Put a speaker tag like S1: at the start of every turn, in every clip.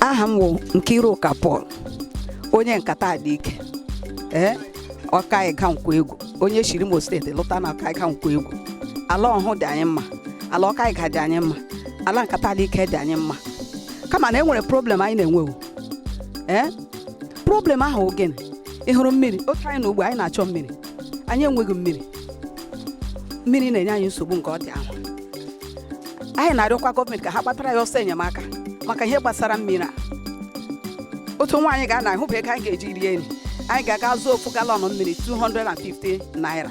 S1: aha m wụ Nkiruka Paul onye Nkata Alike ee Okaiuga Nkwoegwu onye shiri Imo steeti lụta na Okaiuga Nkwoegwu ala Ọhụhụ dị anyị mma ala Okaiuga dị anyị mma ala Nkata Alike dị anyị mma kama na e nwere problem anyị na-enwe o ee problem ahụ wụ gịnị ị hụrụ mmiri otu anyị nọ ugbu a anyị na-achọ mmiri anyị enweghị mmiri mmiri na-enye anyị nsogbu nke ọ dị ahụ anyị na-arịọkwa gọọmenti ka ha gbatara anyị ọsọ enyemaka maka ihe gbasara mmiri a otu nwaanyị ga-ana ahụ bụ ego anyị ga-eji rie nri anyị ga-aga zụọ ofu galọn mmiri 250 naira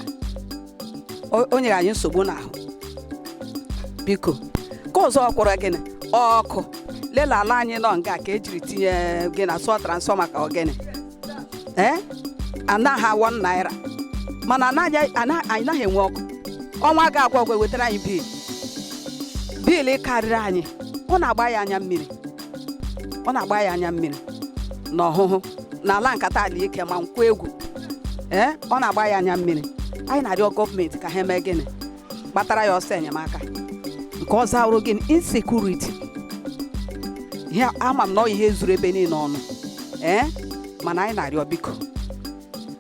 S1: o- o nyere anyị nsogbu n'ahụ biko nke ọzọkwa wụrụ gịnị ọkụ lela ala anyị nọ nga ka ejiri tinye gịnị a sị ọ transfọma ka ọ gịnị ee anaghị awọ naira mana anaghị- ana- anyị naghị enwe ọkụ ọnwa ga-agwụ agwụ ewetara anyị bil bil karịrị anyị ọ na-agba anyị anya mmiri ọ na-agba anyị anya mmiri na Ọhụhụ na ala Nkata Alike ma Nkwoegwu ee ọ na-agba anyị anya mmiri anyị na-arịọ gọọmenti ka ha mee gịnị gbatara anyị ọsọ enyemaka nke ọzọ awụrụ gịnị insekuriti ee ama m na ọ ihe zuru ebe niile ọnụ ee mana anyị na-arịọ biko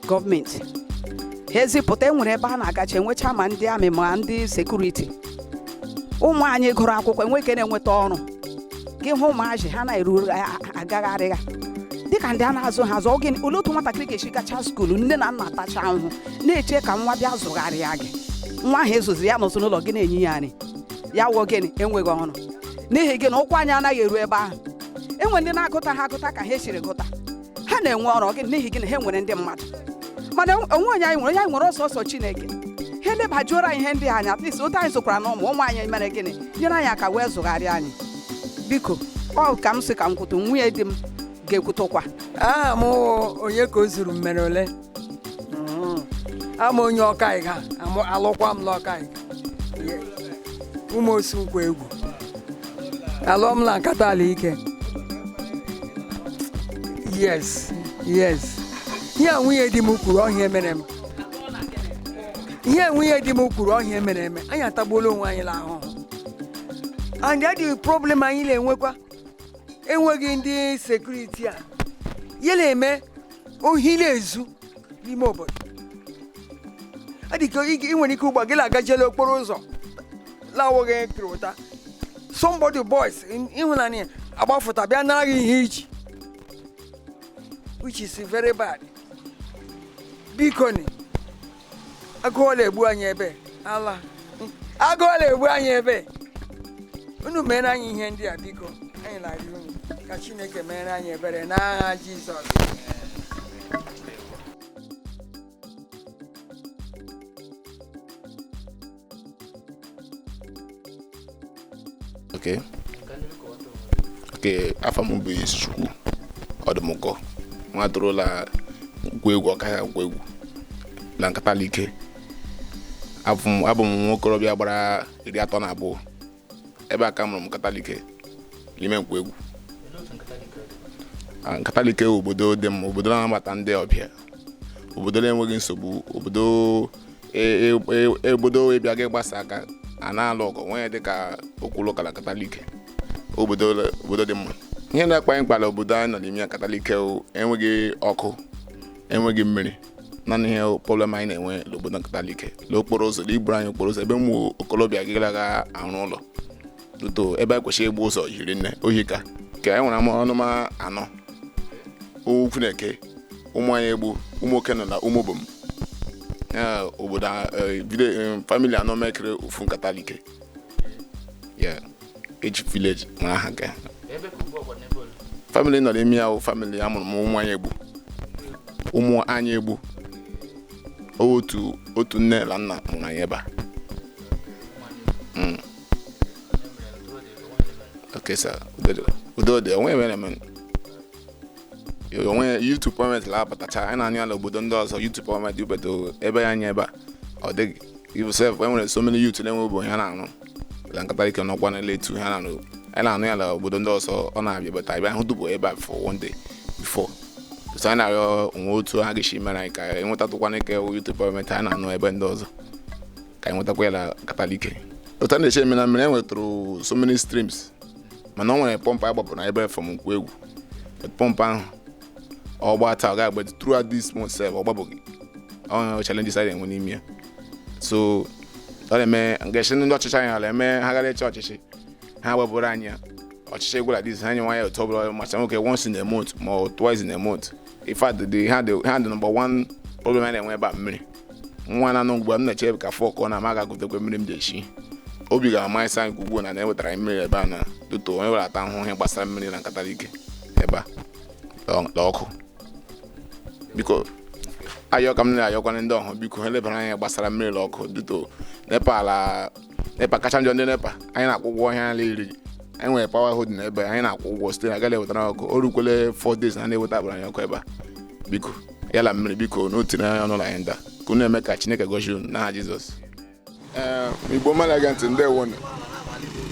S1: gọọmenti ha ezipụta enwere ebe a na-agacha enwecha ma ndị amị ma ndị sekuriti ụmụ anyị gụrụ akwụkwọ enwe ike na-enweta ọrụ gị hụ ụmụazị ha na-eru agagharịga dịka ndị a na-azụ ha azụ oge olee otu nwatakịrị ga-esi gacha skuulu nne na nna tacha ahụhụ na-eche ka nwa bịa zụgharịa gị nwa ahụ ezụziri ya n'ụzụ n'ụlọ gị na-enye ya nri ya wụọ gịnị enweghị ọrụ n'ihi gịnị ụkwụ anyị anaghị eru ebe ahụ enwere ndị na-agụta ha agụta ka ha esiri gụta ha na-enwe ọrụ gị n'ihi gịnị ha nwere ndị mmadụ mana o nweghị onye anyị nwere ọ sọsọ Chineke ha elebajuoro anyị ihe ndị ahụ anya at least otu anyị zụkwara na ụmụ ụmụ anyị mere gịnị nyere anyị aka wee zụgharịa anyị biko ọ ka m si ka m kwutụ nwunye di m ga-ekwutụkwa aha m
S2: wụ Onyekaozuru Mmereole Mm. awụ m onye Okaiuga amụ- alụkwa m n'Okaiuga. ụmụ osi Nkwoegwu alụọ m na Nkata Alike yes yes ihe a nwunye di m kwuru ọ ihe mere eme ihe a nwunye di m kwuru ọ ihe mere eme anyị atagbuola onwe anyị n'ahụhụ and the problem anyị na-enwekwa enweghị ndị sekuriti a ya na-eme ohi na-ezu n'ime obodo ọ dị ka ị nwere ike ugbua gị na-agaje la okporo ụzọ lawụghị pịrị ụta somebody boys ịhụnanya agbafụta bịa nara gị ihe i ji which is very bad bikoni agụụ la-egbu anyị ebe ala agụụ la-egbu anyị ebe unu meere anyị ihe ndị a biko anyị na-arịọ unu ka chineke meere anyị ebere n'aha jizọs
S3: okay okay afa m bụ Izuchukwu Ọdụmụkọ nwa toro la Nkwoegwu Okaiuga Nkwoegwu na Nkatalike abụ m abụ m nwa okorobịa gbara iri atọ na abụọ ebe a ka a mụrụ m Nkatalike n'ime Nkwoegwu ah, Nkatalike obodo dị mma obodo na-anabata ndị ọbịa obodo na-enweghị nsogbu obodo e, e, e, obodo ị bịa gị gbasa aka a na-alụ ọgụ nwee dị ka okwu la ụka la Nkatalike obodo obodo dị mma ihe na-akpa anyị akpa la obodo anyị nọ n'ime ya Nkatalike enweghị ọkụ enweghị mmiri naanị ihe problem anyị na-enwe n'obodo Nkatalike n'okporo ụzọ na iburu anyị okporo ụzọ ebe ụmụ okorobịa ga la-arụ ụlọ ọtụtụ ebe e kwesịrị igbu ụzọ hiri nne o hika ka anyị nwere ama ọnụma anọ ukwu na-eke Ụmụanyaegbu Ụmụokenọ na Ụmụobom obodo famili anọ mekere ofu Nkatalike ya eji village ma aha ga famili nọ n'ime ya bụ famili a mụrụ m Ụmụanyaegbu Ụmụanyaegbu otu otu nne na nna mụrụ anyị ebe a Mm. okay sir udo dị o nwee ihe mere eme o nwee youth empowerment na-abatacha anyị na-anụ ya n'obodo ndị ọzọ youth empowerment ibedo ebe ya anya ebe a ọ dịghị even sef e nwere so many youth na-enweghị ọrụ ha na-arụ la Nkatalike n'ọkwa na letu ha na-arụ anyị na-anụ ya na obodo ndị ọzọ ọ na-abịa bata ebe ahụ tupu ebe a for one day before so anyị na-arịọ o nwee otu ha ga-esi meere anyị ka anyị nwetatụkwana ike youth empowerment anyị na-anụ ebe ndị ọzọ ka anyị nwetakwa ya na Nkatalike otu a na-eche eme na mmiri e nwetụrụ so many streams mana ọ nwere pọmpụ a gbapụrụ na ebe from Nkwoegwu pọmpụ ahụ ọ gbaa taa ọ ga-agba throughout this month sef ọ gbabeghị ọ challenges a na-enwe n'ime ya so ọ na-eme ngesi ndị ọchịchị anyị ala eme ha gara ịchị ọchịchị ha gbapụrụ anyị ya ọchịchị gwụ like this ha nye nwa ya otu ọbụla macha nwoke once in a month ma ọ twice in a month in fact the ha dị ha dị number one problem a na-enwe ebe a mmiri nwa na-anọ ugbu a m na-eche ka four kụọ na m aga gotekwe mmiri m ji echi obi ga-ama ịsa nke ukwu na na-ewetara anyị mmiri ebe a na doto onye were ata ahụhụ ihe gbasara mmiri na nkata alike ebe a na ọkụ biko ayọ ka m na-ayọkwanye ndị ọhụ biko ha lebara anya gbasara mmiri na ọkụ doto nepa ala nepa kacha njọ ndị nepa anyị na-akwụ ụgwọ ihe ala iri anyị nwere power holding ebe anyị na-akwụ ụgwọ site na agaghị ewetara ọkụ o rukwele 4 days na na-eweta abụrụ anyị ọkụ ebe a biko ya la mmiri biko n'otu na anya ọnụla anyị nda ka unu eme ka chineke gọzie unu n'aha jizọs ee igbo ọma na-ege ntị ndeewonụ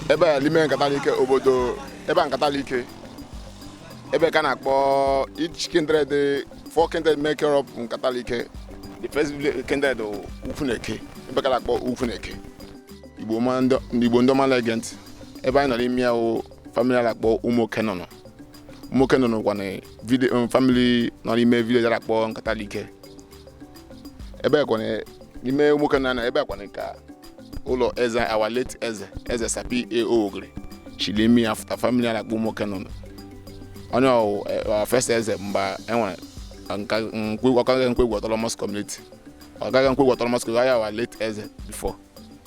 S3: ebe a n'ime nkata alike obodo ebe a nkata alike ebe ka na-akpọ each kindred four kindred make up nkata alike the first kindred ukwuneke ebe a ka a na-akpọ ukwuneke igbo ndị ọma na-ege ntị ebe anyị nọ n'ime ya wụ family a na-akpọ ụmụokenọ nọ ụmụokenọ nọkwa na family nọ n'ime village a na-akpọ nkata alike ebe a kwa na n'ime ụmụokenọ ebe a kwa ka ụlọ eze our late eze eze sir p a ogiri shiri ime ya fụta family na-akpọ ụmụokenọ onye wụ first eze mgbe e nwere okaiuga nkwoegwu autonomous community okaiuga nkwoegwu autonomous community ya wụ our late eze before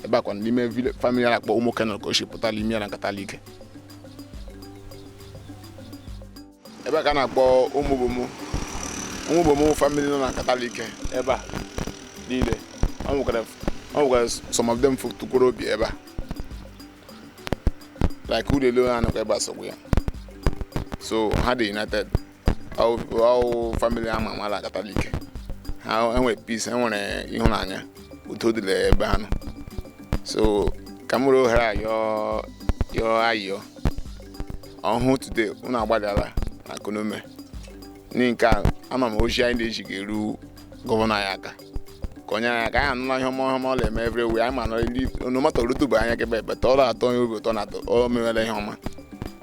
S3: ebe a kwa n'ime family na-akpọ ụmụokenọ ka o si pụtara ime ya na nkata alike ebe a ka a na-akpọ ụmụbomu ụmụbomu wụ family nọ na nkata alike ebe a niile ọ nwekwara ọ nwekwara some of them tukwuru obi ebe a like ụlọ elu ha nọkwa ebe a sogbu ya so ha dị united ọ wụ family a ma ama na nkata alike ha nwere peace nwere ịhụnanya udo dị la ebe ha nọ so ka m were ohere a yọọ yọọ ayịyọ ọhụụ today unu agbalịala ka unu mee n'ihi nke a ama m ozi anyị na-ezi ga-eru gọvanọ anyị aka ka o nyere anyị aka anyị anụla ihe ọma ihe ọma ọ na-eme everywhere anyị ma na ili onomata o rutube anyị aka ebe a but ọ na-atọ anyị obi ụtọ na atọ o mewela ihe ọma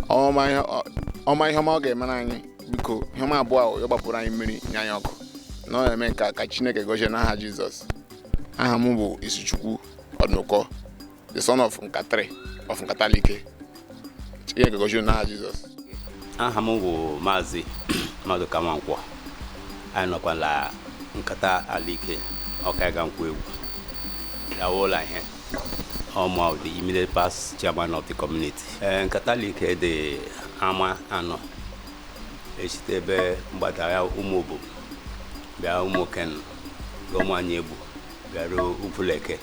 S3: ọma ihe ọ- ọma ihe ọma ọ ga-emere anyị biko ihe ọma abụọ ahụ ya gbapụrụ anyị mmiri nye anyị ọkụ na ọ na-eme nke a ka chineke gọzie n'aha jizọs aha m bụ izuchukwu ọdụnụkọ the son of Nkata of Nkata Alike. Chineke gọzie n'aha Jizọs. aha
S4: m bụ maazị madụka nwankwọ anyị nọkwa la nkata alike okaiuga nkwoegwu awụla ihe ọma of the immediate past chairman of the community ee nkata alike dị ama anọ e shite ebe mgbada ya ụmụbomu bịa ụmụokenọ gaa ụmụanyị egbu bịaruo ugwuleke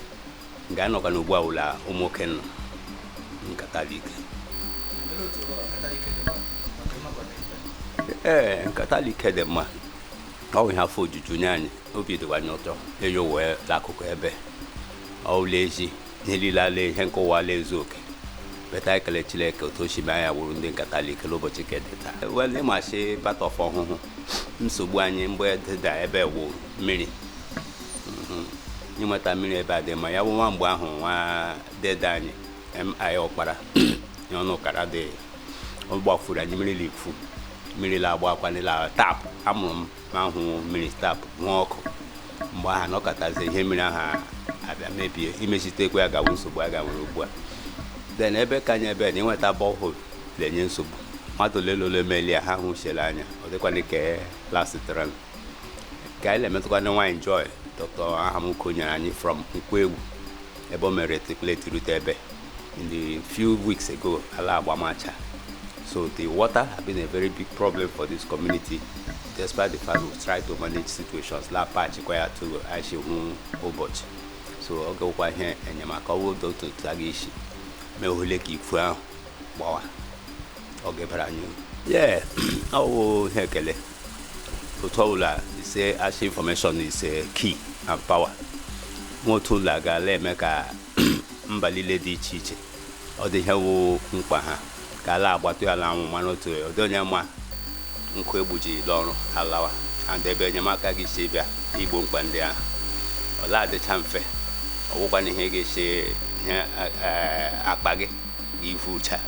S4: nga anyị nọkwa n'ugbu a wụla ụmụ nwoke nọ nkata alike ee nkata alike dị mma ọ bụ ihe afọ ojuju nye anyị obi dịkwa anyị ụtọ eyo wee la akụkụ ebe ọ wụla ezi ihe niile ala ihe nke ụwa ala ezu oke but ekele chineke otu o si mee ya wụrụ ndị nkata alike n'ụbọchị nke dị taa wel ịmasị batọf ọhụhụ nsogbu anyị mgbe dịda ebe wụ mmiri ịnweta mmiri ebe a dị ma ya bụ nwa mgbe ahụ nwa dede anyị mi ọkpara iheọnụkara dị ọ gbafuru anyị mmiri l'ikwu mmiri la agbakwanụ la tap a mụrụ m ma hụ mmiri tap nwa ọkụ mgbe aha na ọkatazi ihe mmiri aha abịa mebie imezitekwa ya ga-awụ nsogbu a gawere ugbu a then ebe ka anyị ebe na ịnweta borehole na-enye nsogbu mmadụ ole na ole melie ha hụsiela anya ọ dịkwana ka lasịtara ka anyị na-emetụkwa ndị nwaanyị joy dọkịta aham uko nyere anyị from nkwoegwu ebe o mere tripleti rute ebe in the few weeks ago ala agbamacha so the water has been a very big problem for this community despite the fact we try to manage situations la patch kwa ya to aishi hụ ụbọchị so ọ gawụkwa ihe enyemaka ọwụ otu a ga-esi mee ohule ka ikwu ahụ gbawa ọ ga-ebara anyị uru. yeah ọwụ ihe ekele otu ọbụla e si ashị information is key and power nwa otu ụlọ agaala eme ka mba niile dị iche iche ọ dị ihe wụ mkpa ha ka ala agbata ya ala anwụ mana otu ọ dị onye ma nkụ egbuji ọrụ alawa and ebe enyemaka ga-esi bịa igbo mkpa ndị ahụ ọla adịcha mfe ọ wụkwana ihe ga-esi ihe akpa gị ivucha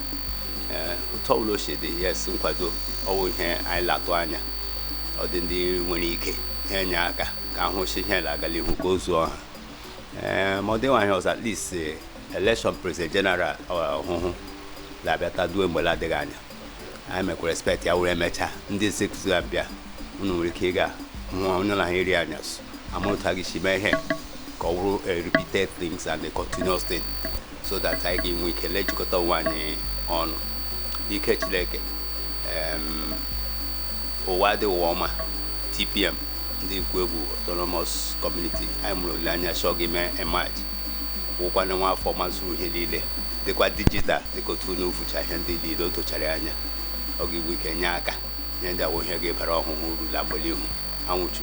S4: ee otu ọbụla o si dị yes nkwado ọwụ ihe anyị latụ anya ọ dị ndị nwere ike ha enye aka ka a hụ sị ihe na-agala ihu ka o zuo ọha ee ma ọ dịghị ihe ọzọ at least eh, election president general ọhụhụ na-abịa ta due mgbe na-adịghị anya anyị mekwa repeat ya wụrụ e mechaa ndị executive bịa unu nwere ike ịga hụọ onye na ha eri anyasụ amụta ga-esi mee ihe ka ọ bụrụ a repeated things and a continuous thing so that anyị ga-enwe ike lejikọta onwe anyị ọnụ n'ike chineke em, ụwa dị ụwa ọma tpm ndị nkwoegwu autonomous community anyị nwere olileanya sị ọ ga-eme emerge wụkwana nwa afọ mazuru ihe niile dịkwa digital dịka otu unu vụcha ihe ndị niile o tụchara anya ọ ga-enwe ike nye aka ihe ndị a wụ ihe ga-ebara ọhụhụ uru na mgbe l'ihu anwụchu